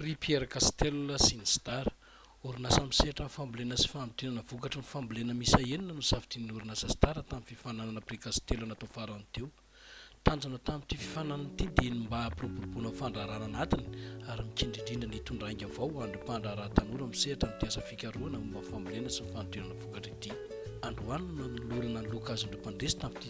Prix Pierre Castel sy ny Sdar. Orinasa misehatra amin'ny fambolena sy fanodinana vokatry ny fambolena miisa enina no safidian'ny orinasa Sdar tamin'ny fifaninanana Prix Castel natao farany teo. Tanjona tamin'ity fifaninanana ity dia ny mba hampiroboroboana ny fandraharahana anatiny ary mikendry indrindra ny hitondra ainga vao ho an'ireo mpandraharaha tanora misehatra amin'ity asa fikarohana momba ny fambolena sy ny fanodinana vokatra ity. Androany no nanolorana ny loka azon'ireo mpandresy tamin'ity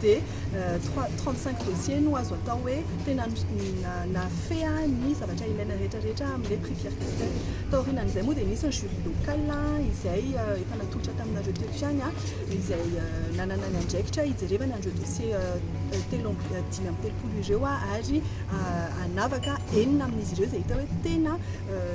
dia trois trente cinq dossiers no azo atao hoe tena nafehan'ny zavatra ilaina rehetra rehetra amin'ilay prix Pierre Castel. Taorianan'izay moa dia nisy ny jury local izay efa natolotra taminareo teto ihany izay nanana ny andraikitra hijerevana an'ireo dossiers telo amby dimy amby telopolo ireo ary hanavaka enina amin'izy ireo izay hita hoe tena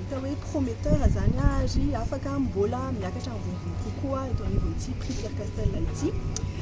hita hoe prometteur izany ary afaka mbola miakatra ambonimbony kokoa eto anivon'ity prix Pierre Castel ity.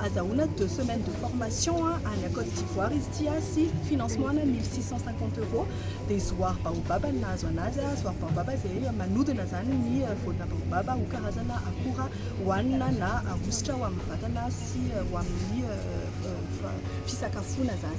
Azahoana deux semaines de formation any Côte d'Ivoire izy ity sy financement ana mille six cent cinquante euros dia zoary baobab no nahazo anazy, zoary baobab izay manodina izany ny voanina baobab ho karazana akora hohanina na ahosotra ho amin'ny vatana sy ho amin'ny fisakafoana izany.